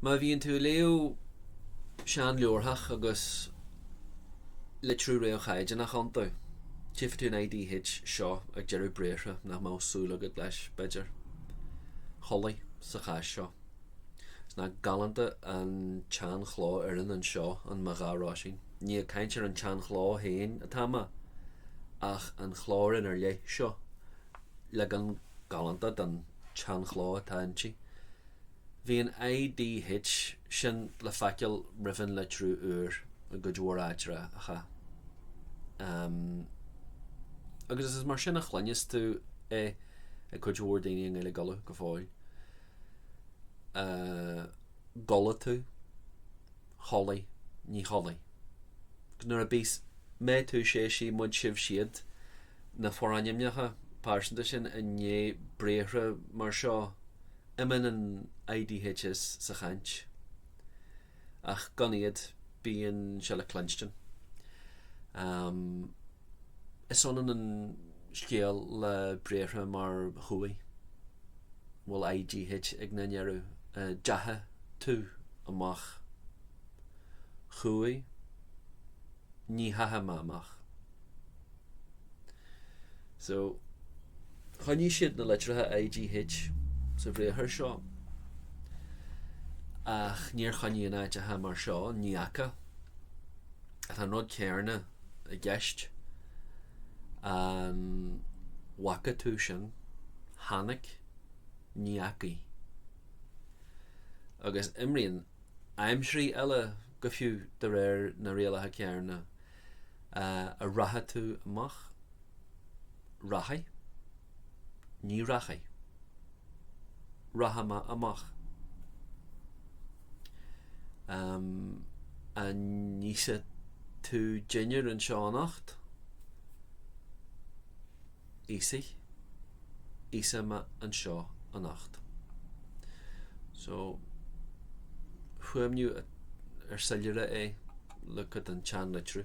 Má bhíonn tú ag léamh sean-leabharthach agus litriú réamh-chaighdeánach iontu, tchífidh tú an IDH seo ag deireadh briathra nach mbeadh súil agat leis, b'fhéidir. Chualaidh, sa chás seo. Is nach galánta an tsean-chlófhoireann anseo an mba ghá Roisín. Ní ag caint ar an tsean-chló féin atá mé ach an chlófhoireann ar leith seo. leagan galánta den tseanchló atá inti. Bhí an IDH sin le feiceáil roimh an litriú úr i gcuid mhór áiteacha. Amm. Agus is mar sin a chluineas tú é ag cuid mhór daoine i nGaeilge Uladh go fóill. Eh. gCuala tú? Chualaidh, ní chualaidh. Ach nuair a bíos mé, tú, sé, sí, muid, sibh, siad, na forainmneacha pearsanta sin i ndiaidh briathra mar seo, imíonn an IDH sa chaint. Ach gan iad, bíonn sé le cluinstin. Is ionann an scéal le briathra mar chuaigh, bhfuil IGH ag na ndeireadh, deachaigh tú amach, chuaigh, ní theachaigh mé amach. So, choinnigh siad na litreacha IGH sa bhriathar seo, ach níor choinnigh in áiteacha mar seo, ní fhaca. Tá an rud céarna. i gceist. An bhfaca tú sin? Chonaic, ní fhacaidh. Agus imríonn aimsirí eile go fiú de réir na rialacha céanna. An rachaidh tú amach? Rachaidh. Ní rachaidh. Rachaidh mé amach. Ehm, an n-íosfaidh tú dinnéar anseo anocht? Íosfaidh. Íosfaidh mé anseo anocht. So, fuaimniú ar soiléire é, look at an tseanlitriú.